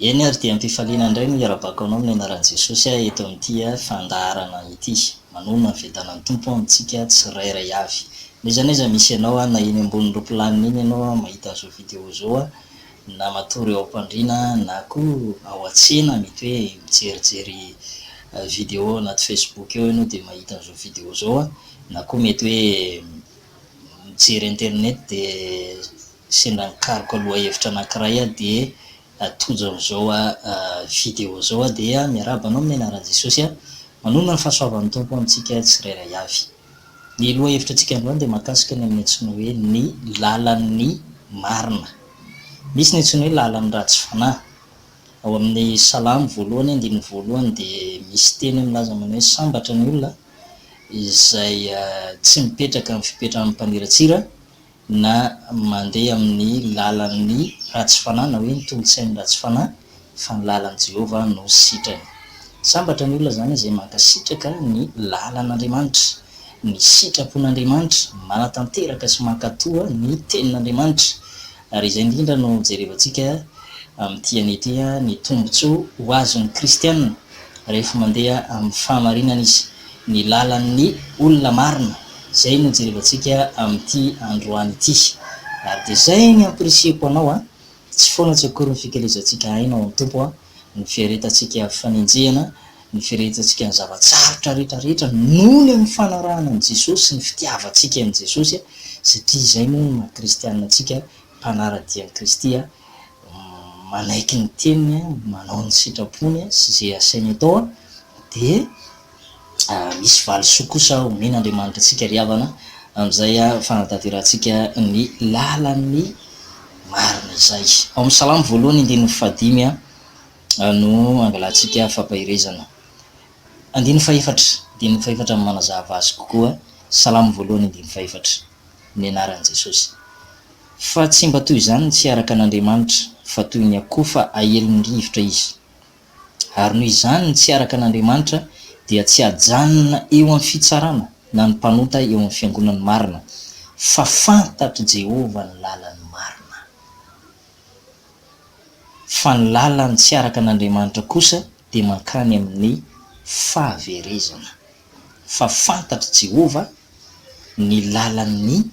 Eny ary dia am-pifaliana indray no iarabako anao amin'ny anaran'i Jesosy aho eto amin'ity fandaharana ity. Manonona ny fiadanan'ny Tompo ho amintsika tsirairay avy. Noiza noiza misy ianao aho na eny ambonin'ny ropilanina eny ianao aho mahita an'izao video izao aho na matory ao am-pandriana na koa ao an-tsena mety hoe mijerijery video ao anaty facebook eo ianao dia mahita an'izao video izao aho na koa mety hoe mijery internet dia Sendra nikaroka lohahevitra anankiray aho dia tojo amin'izao video izao aho dia miarahaba anao amin'ny anaran'i Jesosy a! Manonona ny fahasoavan'ny Tompo amintsika tsirairay avy. Ny lohahevitr'antsika androany dia mahakasika ny amin'ny antsoina hoe ny lalan'ny marina. Misy ny antsoina hoe lalan'ny ratsy fanahy. Ao amin'ny Salamo voalohany andininy voalohany dia misy teny milaza manao hoe sambatra ny olona izay tsy mipetraka amin'ny fipetran'ny mpaniratsira na mandeha amin'ny lalan'ny ratsy fanahy na hoe ny tolontsain'ny ratsy fanahy fa ny lalan'i Jehovah no sitrany. Sambatra ny olona izany izay mankasitraka ny lalan'Andriamanitra, ny sitrapon'Andriamanitra, manatanteraka sy mankatò ny Tenin'Andriamanitra. Ary izay indrindra no jerevantsika amin'ity anio ity, ny tombontsoa ho azon'ny kristiana rehefa mandeha amin'ny fahamarinana izy. ny lalan'ny olona marina, izay no jerevantsika amin'ity androany ity. Ary dia izay ny hampirisihako anao a, tsy foana tsy akory ny fikelezantsika aina ao amin'ny Tompo a, ny fiaretantsika fanenjehana, ny firehetantsika ny zava-tsarotra rehetra rehetra noho ny amin'ny fanarahana an'i Jesosy sy ny fitiavantsika an'i Jesosy a, satria izay moa no maha kristianina antsika mpanara-dia an'i Kristy manaiky ny teniny, manao ny sitrapony sy izay asainy atao, dia misy valisoa kosa omen'Andriamanitra antsika ry havana amin'izay fanatanterahantsika ny lalan'ny marina izay. Ao amin'ny Salamo voalohany andininy fahadimy no angalantsika fampaherezana. Andininy fahefatra, andininy fahefatra no manazava azy kokoa, Salamo voalohany andininy fahefatra. ny anaran'i Jesosy. Fa tsy mba toy izany ny tsy araka an'Andriamanitra, fa toy ny akoho fa aelin'ny rivotra izy. Ary noho izany ny tsy araka an'Andriamanitra dia tsy ajanona eo amin'ny fitsarana na ny mpanota eo amin'ny fiangonan'ny marina, fa fantatr'i Jehovah ny lalan'ny marina. Fa ny lalan'ny tsy araka an'Andriamanitra kosa dia mankany amin'ny fahaverezana. fa fantatr'i Jehovah ny lalan'ny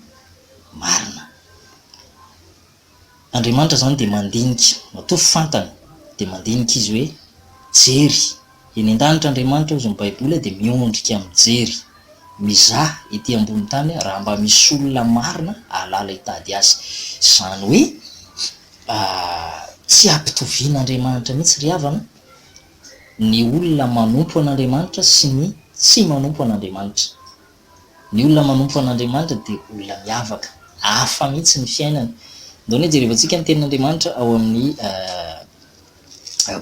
marina. Andriamanitra izany dia mandinika, matoa fantany dia mandinika izy hoe jery. Eny an-danitra Andriamanitra hozy ny Baiboly dia miondrika mijery, mizaha ety ambony tany raha mba misy olona marina hahalala hitady azy. Izany hoe tsy ampitovian'Andriamanitra mihitsy ry havana. ny olona manompo an'Andriamanitra sy ny tsy manompo an'Andriamanitra. Ny olona manompo an'Andriamanitra dia olona miavaka, hafa mihitsy ny fiainany. Ndao anie jerevantsika ny Tenin'Andriamanitra ao amin'ny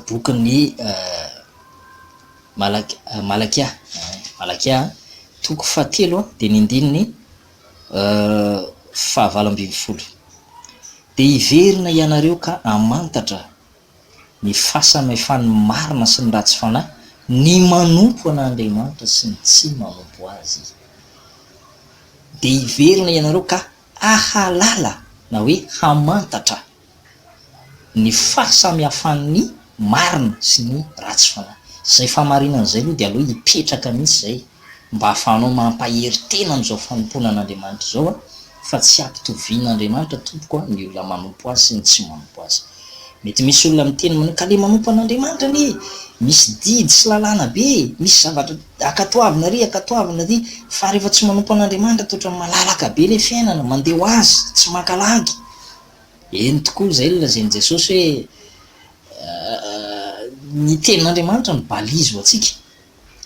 bokin'i Malakia, Malakia toko fahatelo dia ny andininy fahavalo ambin'ny folo, Dia hiverina ianareo ka hamantatra ny fasana efa ny marina sy ny ratsy fanahy, ny manompo an' Andriamanitra sy ny tsy manompo Azy. Dia hiverina ianareo ka hahalala, na hoe hamantatra, ny fahasamihafan' ny marina sy ny ratsy fanahy. Izay fahamarinana izay aloha dia aleo hipetraka mihitsy izay. mba ahafahanao mampahery tena amin'izao fanompoana an'Andriamanitra izao a, fa tsy hampitovian'Andriamanitra tompoko a ny olona manompo Azy sy ny tsy manompo Azy. Mety misy olona miteny manao ka le manompo an'Andriamanitra anie e! misy didy sy lalàna be e! misy zavatra akatoavina ary akatoavina ary fa rehefa tsy manompo an'Andriamanitra dia ohatran'ny malalaka be le fiainana, mandeha ho azy, tsy maka lagy. Eny tokoa, izay no lazain'i Jesosy hoe ny tenin'Andriamanitra no balise ho antsika.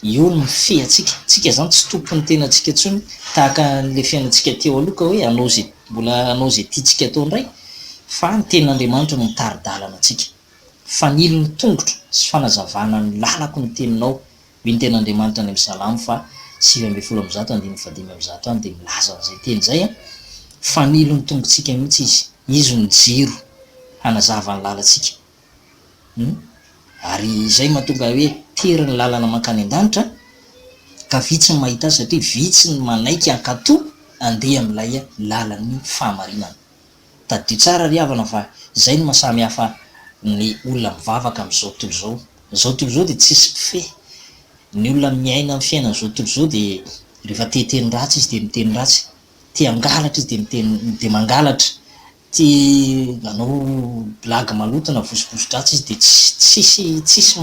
Io ny feantsika. Tsika zany tsy tompon'ny tenantsika tsony tahaka an'ilay fiainantsika teo aloha ka hoe hanao ze mbola hanao izay tiantsika atao indray fa ny tenin'Andriamanitra no mitari-dalana antsika. Fanilo ny tongotro sy fanazavana ny lalako ny teninao. Mino tenin'Andriamanitra any amin'ny Salamo faha sivy ambin'ny folo amby zato andininy faha dimy amby zato any dia milaza an'izay teny izay an. Fanilo ny tongotsika mihitsy izy. Izy no jiro hanazava ny lalantsika. Ary izay mahatonga hoe tery ny lalana mankany an-danitra ka vitsy ny mahita azy satria vitsy ny manaiky hankato handeha amin'ilay lalan'ny fahamarinana. Tadidio tsara ry havana fa izay no mahasamy hafa ny olona mivavaka amin'izao tontolo izao. Izao tontolo izao dia tsisy mpifehy. Ny olona miaina ny fiainan'izao tontolo izao dia rehefa te hiteny ratsy izy dia miteny ratsy, te hangalatra izy dia miteny dia mangalatra, Tia manao blague maloto na vosoboso-dratsy izy dia tsisy tsisy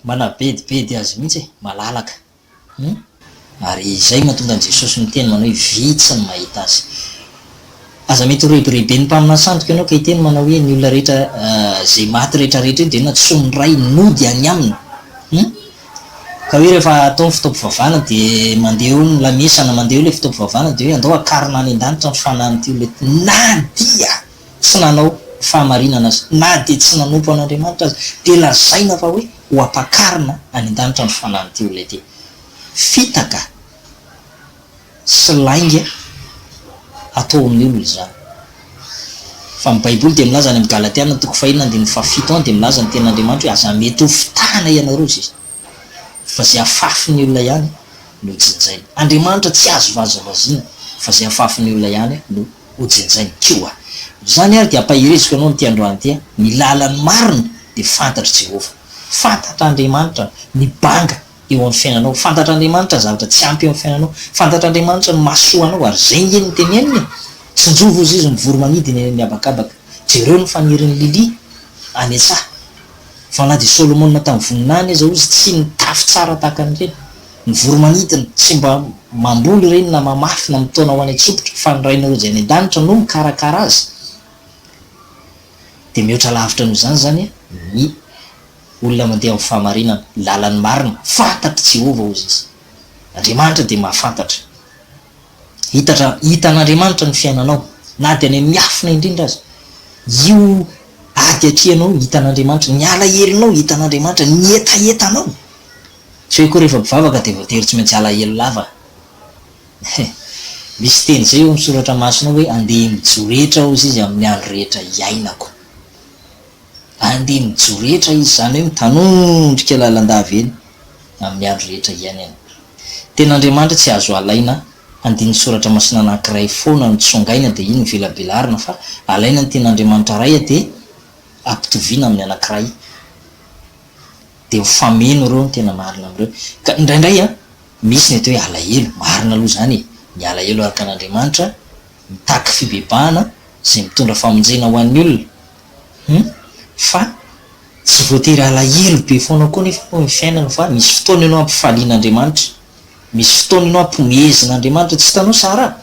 manabedibedy azy mihitsy e! Malalaka hum! Ary izay no mahatonga an'i Jesosy miteny manao hoe vitsy ny mahita azy. Aza mety ho rebireben'ny mpaminany sandoka ianao ka hiteny manao hoe ny olona rehetra izay maty rehetrarehetra io dia inona? Tsy ho niray nody any aminy hum! Ka hoe rehefa atao ny fotoam-pivavahana dia mandeha eo ny lamesa na mandeha eo ilay fotoam-pivavahana dia hoe andao hakarina any an-danitra ny fanahin'ity olona ity na dia tsy nanao ny fahamarinana aza, na dia tsy nanompo an'Andriamanitra aza dia lazaina fa hoe ho ampakarina any an-danitra ny fanahin'ity olona ity. Fitaka. sy lainga atao amin'ny olona izany. Fa ny Baiboly dia milaza any amin'ny Galatiana toko fahiny andininy fahafito any dia milaza ny Tenin'Andriamanitra hoe aza mety ho fitahana ianareo izy izany. Fa izay afafin'ny olona ihany no jinjainy. Andriamanitra tsy azo vazivaziana fa izay afafin'ny olona ihany no hojinjainy. Koa izany ary dia ampahereziko anao amin'ity androany ity, ny lalan'ny marina dia fantatr'i Jehovah. Fantatr'Andriamanitra ny banga. eo amin'ny fiainanao. Fantatr'Andriamanitra ny zavatra tsy ampy eo amin'ny fiainanao. Fantatr'Andriamanitra ny mahasoa anao ary izay nge no teneniny e! Tsinjovy hozy izy ny voromanidina eny amin'ny habakabaka. Jereo ny fanirin'i Lily any an-tsaha. Fa na dia Solomona tamin'ny voninahiny aza hozy tsy nitafy tsara tahaka an'ireny. Ny voromanidina tsy mba mamboly ireny na mamafy na mitaona ho any an-tsopitra fa ny Rainao izay any an-danitra no mikarakara azy. Dia mihoatra lavitra noho izany izany ny. Olona mandeha amin'ny fahamarinana, ny lalan'ny marina, fantatry Jehovah hozy izy. Andriamanitra dia mahafantatra. Hitatra, hitan'Andriamanitra ny fiainanao, na dia any amin'ny miafina indrindra aza. Io ady atrehinao io, hitan'Andriamanitra. Ny alahelonao, hitan'Andriamanitra. Ny hetahetanao. Tsy hoe koa rehefa mpivavaka dia voatery tsy maintsy alahelo lava. Misy teny izay eo amin'ny soratra masina hoe, Andeha mijoro hetra hozy izy amin'ny andro rehetra iainako. Andeha mijoro rehetra izy, izany hoe mitanondrika lalandava eny amin'ny andro rehetra iainany. Tena Andriamanitra tsy azo alaina, andininy soratra masina anankiray foana no tsongaina dia iny no velabelarina fa alaina ny tena Andriamanitra Ray dia ampitoviana amin'ny anankiray dia mifameno ireo ny tena marina amin'ireo. Ka indraindray an, misy ny atao hoe alahelo, marina aloha izany e, ny alahelo araka an'Andriamanitra mitaky fibebahana izay mitondra famonjena ho an'ny olona, Hum fa tsy voatery alahelo be foana koa nefa aloha ny fiainana fa misy fotoana ianao ampifaliana Andriamanitra, misy fotoana ianao ampomehezina Andriamanitra, tsy hitanao Sara?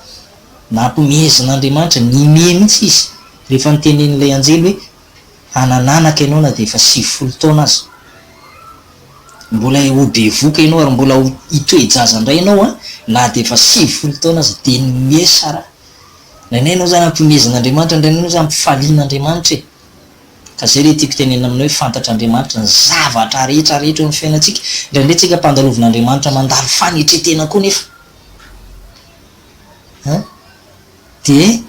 na ampomehezina Andriamanitra, nimehy mihitsy izy rehefa nitenenin'ilay anjely hoe hanan'anaka ianao na dia efa sivifolo taona aza, mbola ho bevoka ianao ary mbola ho hitoe-jaza indray ianao an, na dia efa sivifolo taona aza, dia nimehy Sara. Renay enao zany ampihomezan' Andriamanitra ny renay enao zany ampifalian' Andriamanitra e! Ka zay re tiako tenenina aminao hoe fantatr' Andriamanitra ny zavatra rehetra rehetra eo amin'ny fiainantsika, indraindray tsika ampandalovin' Andriamanitra mandalo fanetretena koa nefa a! dia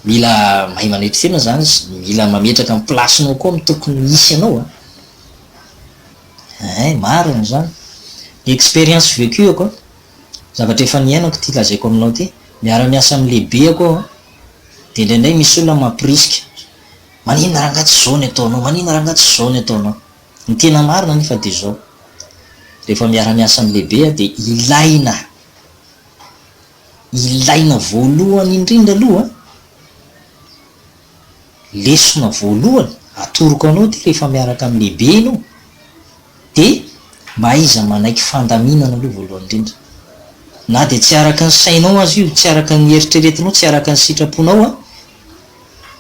mila mahay manetritena zany izy, mila mametraka amin'ny plasinao koa ny tokony hisy anao a! Eeh marina izany, expérience vécue ko. zavatra efa niainako ity lazaiko aminao ity, miara-miasa amin'ny lehibeko aho dia indraindray misy olona mamporisika, maninona rangahy tsy izao ny ataonao, maninona rangahy tsy izao ny ataonao. Ny tena marina anefa dia izao, rehefa miara-miasa amin'ny lehibe aho dia ilaina, ilaina voalohany indrindra aloha, lesona voalohany atoroko anao ity rehefa miaraka amin'ny lehibe ianao, Dia mba aiza manaiky fandaminana aloha voalohany indrindra. Na dia tsy araka ny sainao aza io, tsy araka ny eritreretinao, tsy araka ny sitraponao an,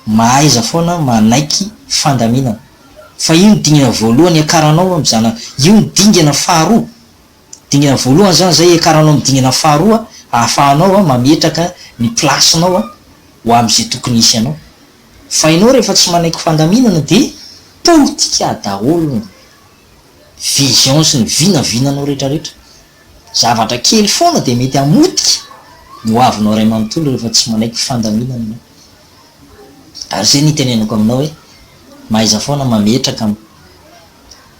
mahaiza foana manaiky fandaminana. Fa io no dingana voalohany hiakaranao amin'ny zanaka. Io no dingana faharoa. Dingana voalohany izany izay hiakaranao amin'ny dingana faharoa ahafahanao mametraka ny place-nao ho amin'izay tokony hisy anao. Fa ianao rehefa tsy manaiky fandaminana dia politika daholo ny vision sy ny vinavinanao retraretra. Zavatra kely foana dia mety hamotika ny hoavinao iray manontolo rehefa tsy manaiky fandaminana ianao. Ary izay no itenenako aminao hoe mahaiza foana mametraka an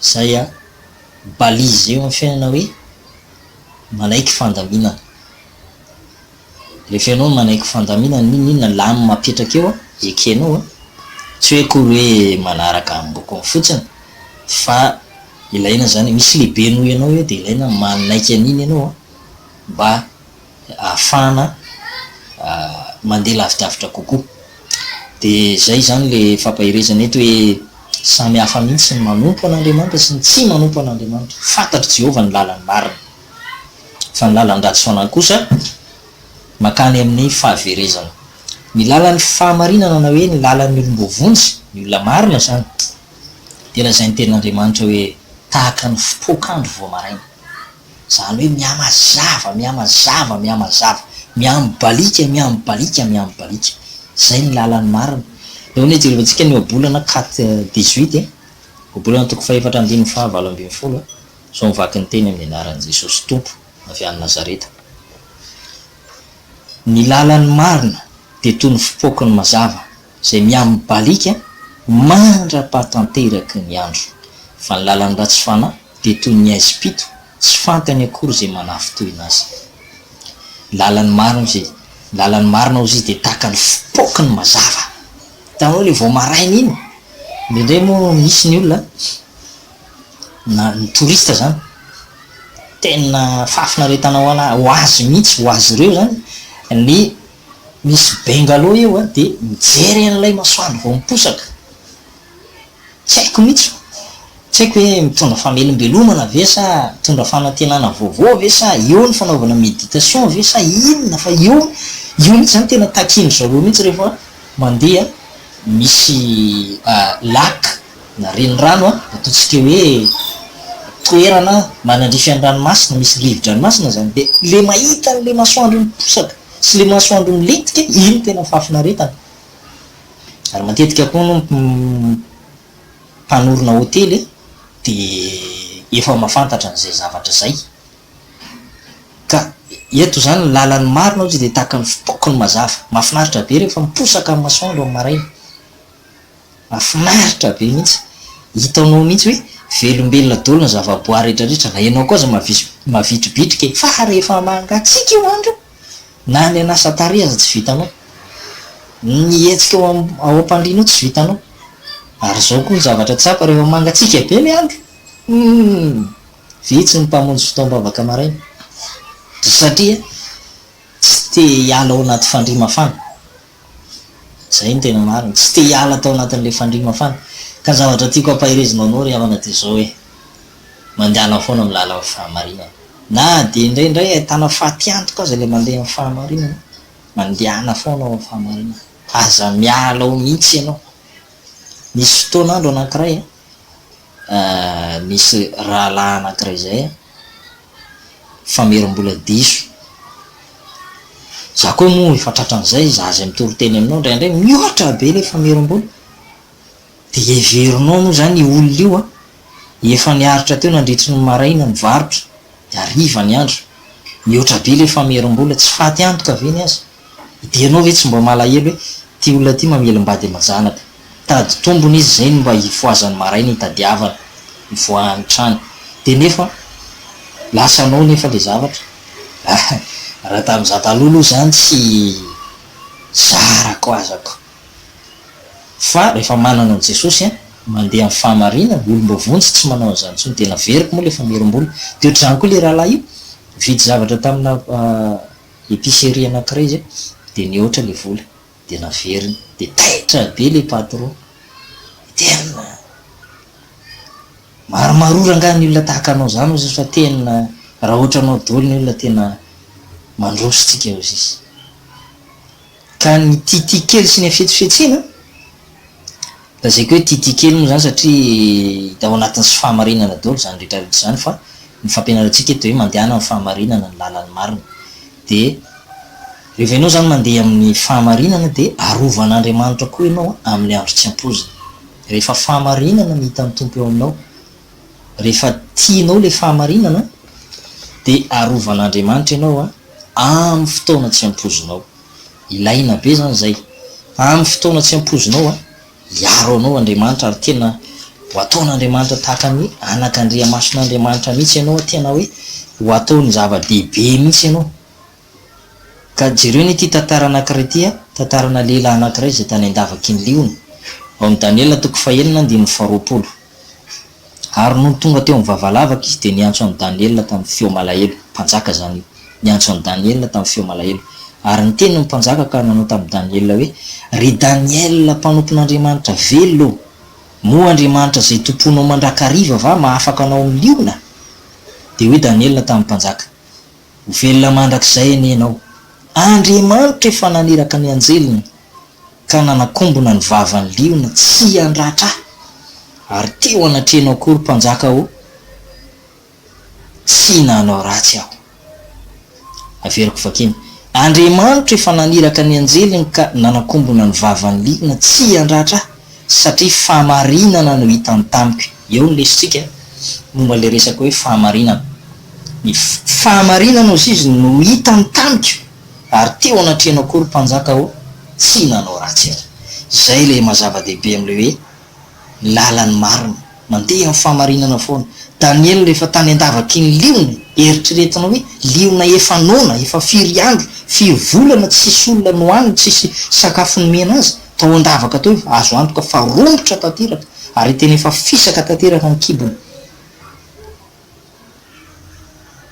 izay an balise eo amin'ny fiainana hoe manaiky fandaminana. Rehefa ianao no manaiky fandaminana n'inona n'inona lanin'ny mapetraka eo ekenao a, tsy hoe akory hoe manaraka ambokony fotsiny fa ilaina izany, misy lehibe noho ianao eo dia ilaina manaiky an'iny ianao a, mba ahafahana mandeha lavidavitra kokoa. Dia izay izany ilay fampaherezana eto hoe samy hafa mihitsy ny manompo an'Andriamanitra sy ny tsy manompo an'Andriamanitra. Fantatr'i Jehovah ny lalany marina. fa ny lalan-dratsy foana kosa mankany amin'ny fahaverezana. Ny lalan'ny fahamarinana na hoe ny lalan'ny olom-boavonjy, ny olona marina izany, dia lazain'ny Tenin'Andriamanitra hoe tahaka ny fotoak'andro vao maraina. Izany hoe mihamazava, mihamazava, mihamazava, mihamibaliaka, mihamibaliaka, mihamibaliaka. Izay ny lalan'ny marina. Eo ny hijerevantsika ny Ohabolana, kat dix-huit e, Ohabolana toko fahefatra andininy faha valo ambin'ny folo e. Sao mivaky ny teny amin'ny anaran'i Jesosy Tompo avy any Nazareta. Ny lalan'ny marina dia toy ny fipoaky ny mazava izay miamibalika mandra-pahatanteraky ny andro, fa ny lalan'ny ratsy fanahy dia toy ny haizim-pito tsy fantany akory izay manafintohina azy. Ny lalan'ny marina ozy, ny lalan'ny marina ozy dia tahaka ny fipoaky ny mazava. Hitanao ilay vao maraina iny? Indraindray moa misy ny olona. na ny touriste zany tena fahafinaretana ho azy mihitsy, ho azy ireo zany ny misy bungalow eo dia mijery an'ilay masoandro vao miposaka, tsy haiko mihitsy, tsy haiko hoe mitondra famelombelomana ve sa mitondra fanantenana vaovao ve sa eo ny fanaovana méditation ve sa inona fa eo, io mihitsy zany tena takian'dry zareo mihitsy rehefa mandeha misy lac. na renirano an, ataontsika hoe toerana manandrify an'ny ranomasina, misy rivo-dranomasina izany, dia ilay mahita an'ilay masoandro miposaka sy ilay masoandro milentika, iny no tena fahafinaretana. Ary matetika koa hono ny mpanorina hotely an, dia efa mahafantatra an'izay zavatra izay. Ka eto izany ny lalan'ny marina ohatra dia tahaka ny fitaokiny mazava. Mahafinaritra be rehefa miposaka ny masoandro amin'ny maraina. Mafinaritra be mihitsy, hitanao mihitsy hoe velombelona dolo ny zavaboary rehetra rehetra, na ianao koa aza mavitribitrika e! Fa rehefa mangatsiaka io andro io, na ny hanasa tarehy aza tsy vitanao, ny hihetsika ao ao am-pandriana ao tsy vitanao, ary zao koa ny zavatra tsapa rehefa mangatsiaka be ny andro, humm! vitsy ny mpamonjy fotoam-bavaka maraina, satria tsy te hiala ao anaty fandrihy mafana, Zay ny tena marina. Tsy te hiala tao anatin'ilay fandria mafana. Ka ny zavatra tiako hampaherezinao anao ry havana dia izao hoe, mandehana foana amin'ny lalan'ny fahamarinana. Na dia indraindray ahitana fatiantoka aza ilay mandeha amin'ny fahamarinana, mandehana foana ao amin'ny fahamarinana. Aza miala ao mihitsy ianao. Nisy fotoana andro anankiray, nisy rahalahy anankiray izay an, famerim-bola diso, za koa moa efa tratran'izay, za izay mitory teny aminao indraindray mihoatra be ilay famerim-bola, dia heverinao moa izany io olona io an, efa niaritra teo nandritry ny maraina nivarotra, dia hariva ny andro, mihoatra be ilay famerim-bola, tsy faty antoka ve ny azy? Dia ianao ve tsy mba malahelo hoe ity olona ity mamelom-bady aman-janaka. Mitady tombony izy izay no mba hifohazany maraina hitadiavany ny voahany trany. Dia nefa lasa anao nefa ilay zavatra. Raha tamin'izaho taloha aloha izany tsy zarako azako. Fa rehefa manana an'i Jesosy an, mandeha amin'ny fahamarinana, olom-ba vonjy tsy manao an'izany intsony. Dia naveriko moa ilay famerim-bola. Dia ohatr'izany koa ilay rahalahy io. Nividy zavatra tamina. Epicerie anakiray zay de nihoatra le vola de naveriny de taitra be le patron, tena maromarora nga ny olona tahaka anao zany ozizy fa tena raha hoatra anao doly ny olona tena mandroso tsika ozizy. Ka ny Tity kely sy ny hafetsifetsena? Lazaiko hoe Tity kely moa izany satria hita ao anatin'ny sy fahamarinana daholo izany rehetra rehetra izany fa ny fampianarantsika eto dia hoe mandehana amin'ny fahamarinana ny lalan'ny marina dia rehefa ianao izany mandeha amin'ny fahamarinana dia arovan'Andriamanitra koa ianao amin'ny andro tsy ampoizina rehefa fahamarinana ny hitan'ny Tompo eo aminao rehefa tianao ilay fahamarinana dia arovan'Andriamanitra ianao amin'ny fotoana tsy ampoizinao. Ilaina be izany izay. Amin'ny fotoana tsy ampoizinao, hiaro anao Andriamanitra ary tena ho ataon'Andriamanitra tahaka ny anak'Andriamasin'Andriamanitra mihitsy ianao, tena hoe ho ataony zava-dehibe mihitsy ianao. Ka jereo anie ity tantara anankiray ity a, tantarana lehilahy anankiray izay tany an-davaky ny liona, ao amin'ny Daniela toko fahenina andininy faharoapolo. Ary nony tonga teo amin'ny vavalavaka izy dia niantso an'i Daniela tamin'ny feo malahelo, mpanjaka izany io, niantso an'i Daniela tamin'ny feo malahelo. Ary niteny ny mpanjaka ka nanao tamin'i Daniela hoe, Ry Daniela mpanompon'Andriamanitra velona ô, moa Andriamanitra izay tompoinao mandrakariva va mahafaka anao amin'ny liona? Dia hoy Daniela tamin'ny mpanjaka. Ho velona mandrakizay anie ianao. Andriamanitra efa naniraka ny anjeliny ka nanakombona ny vavan'ny liona tsy handratra ahy, ary teo anatrehanao koa ry mpanjaka ô, tsy nanao ratsy aho. Averiko vakina, Andriamanitra efa naniraka ny anjeliny ka nanakombona ny vavan'ny liona tsy handratra ahy. satria fahamarinana no hitany tamiko, eo ny lesotsika momba ilay resaka hoe fahamarinana, ny fahamarinana hozy izy no hitany tamiko ary teo anatrehanao koa ry mpanjaka ô, tsy nanao ratsy aho, izay ilay mazava-dehibe amin'ilay hoe lalan'ny marina. Mandeha amin'ny fahamarinana foana. Daniela rehefa tany an-davaky ny liona e! Eritreretina hoe liona efa noana, efa firy andro, firy volana tsisy olona nohaniny, tsisy sakafo nomena azy, tao an-davaka tao izy, azo antoka fa romotra tanteraka, ary tena efa fisaka tanteraka ny kibony.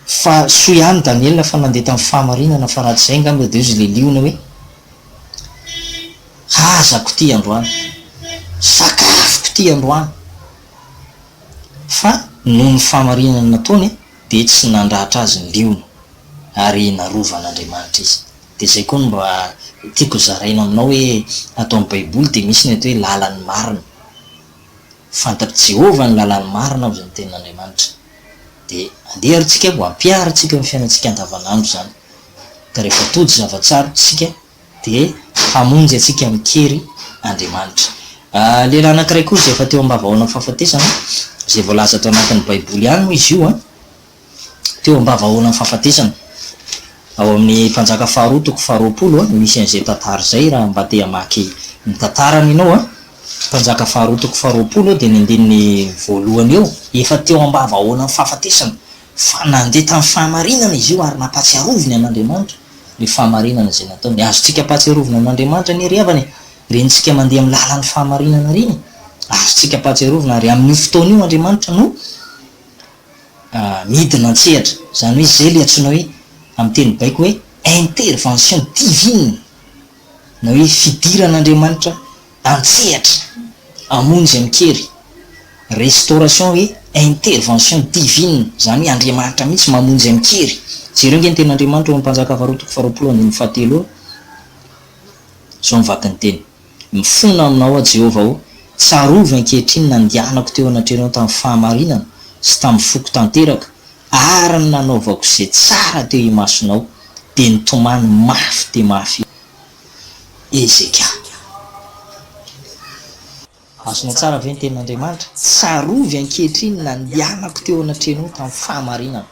Fa soa ihany Daniel fa nandeha tamin'ny fahamarinana fa raha tsy izay angamba dia ozy ilay liona hoe hazako ity androany, sakafoko ity androany. Fa noho ny fahamarinana nataony dia tsy nandratra azy ny liona ary narovan'Andriamanitra izy. Dia izay koa no mba tiako zaraina aminao hoe ato amin'ny baiboly dia misy ny atao hoe lalan'ny marina. Fantatr'i Jehovah ny lalàny marina ao izany Tenin'Andriamanitra. Dia andeha àry isika mba hampiharina antsika eo amin'ny fiainantsika andavanandro izany. Ka rehefa tody zava-tsarotra isika, dia hamonjy antsika amin-kery Andriamanitra. Lehilahy anankiray koa izay efa teo am-bavahoanan'ny fahafatesana, izay voalaza ato anatin'ny Baiboly ihany moa izy io. teo am-bavahaonan'ny fahafatesana. Ao amin'ny Mpanjaka faharoa toko faharoapolo no misy an'izay tantara izay raha mba te hamaky ny tantarany ianao. Mpanjaka faharoa toko faharoapolo dia ny andininy voalohany eo. Efa teo am-bavahaonan'ny fahafatesana fa nandeha tamin'ny fahamarinana izy io ary nampahatsiaroviny an'Andriamanitra ilay fahamarinana izay nataony. Azontsika ampahatsiarovina an'Andriamanitra anie ry havana e! Rentsika mandeha amin'ny lalan'ny fahamarinana ireny e! Azontsika ampahatsiarovina ary amin'io fotoana io Andriamanitra no. midina an-tsehatra. Izany hoe izay ilay antsoina hoe, amin'ny teny baiko hoe, intervention divine, na hoe fidiran'Andriamanitra an-tsehatra hamono izay mikery. Restauration hoe intervention divine, izany hoe Andriamanitra mihitsy mamono izay mikery. Jereo ange ny tenin'Andriamanitra ao amin'ny Mpanjaka faharoa toko faharoapolo andininy fahatelo ao, izao ny vakin'ny teny. Mifona aminao aho Jehovah o, tsarovy ankehitriny ny nandehanako teo anatrehanao tamin'ny fahamarinana sy tamin'ny foko tanteraka, ary ny nanaovako izay tsara teo imasonao. Dia nitomany mafy dia mafy i Hezekia. Azonao tsara ve ny tenin'Andriamanitra? Tsarovy ankehitriny ny nandehanako teo anatrehanao tamin'ny fahamarinana.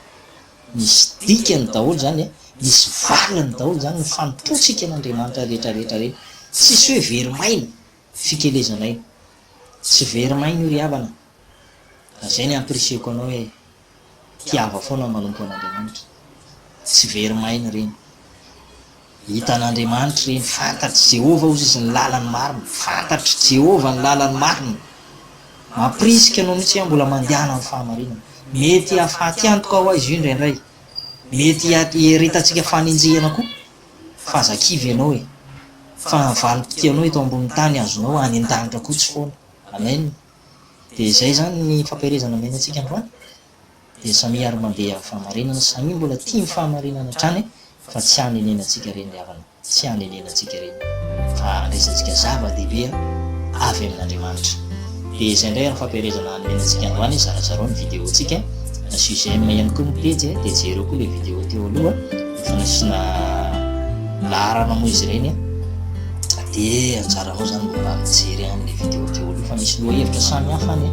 Misy dikany daholo izany e, misy valiny daholo izany ny fanompoantsika an'Andriamanitra rehetra rehetra ireny. Tsisy hoe very maina fikelezana io. Tsy very maina io ry havana. Ka izay ny hampirisihiko anao hoe tiava foana ny manompo an'Andriamanitra. Tsy very maina ireny. Hitan'Andriamanitra ireny, fantatr'i Jehovah hozy izy ny lalan'ny marina. Fantatr'i Jehovah ny lalan'ny marina. Mampirisika anao mihitsy aho mbola mandehana amin'ny fahamarinana. Mety hahafaty antoka ho aiza io indraindray. Mety hiaretantsika fanenjehana koa. Fa aza kivy ianao e! Fa ny valim-pitia anao eto ambonin'ny tany azonao any an-danitra koa tsy foana. Amen! Dia izay izany ny fampielezana omena antsika androany. dia samia ary mandeha amin'ny fahamarinana, samia mbola tia ny fahamarinana hatrany fa tsy hanenenantsika ireny ry havana, tsy hanenenantsika ireny fa handraisantsika zava-dehibe avy amin'Andriamanitra. Dia izay indray ary ny fampielezana hanome antsika androany, zarazarao ny video-ntsika, na sujet-m ihany koa ny pejy e, dia jereo koa ilay video teo aloha efa nasiana laharana moa izy ireny, dia anjaranao izany mba mijery an'ilay video teo aloha fa misy lohahevitra samy hafa any e.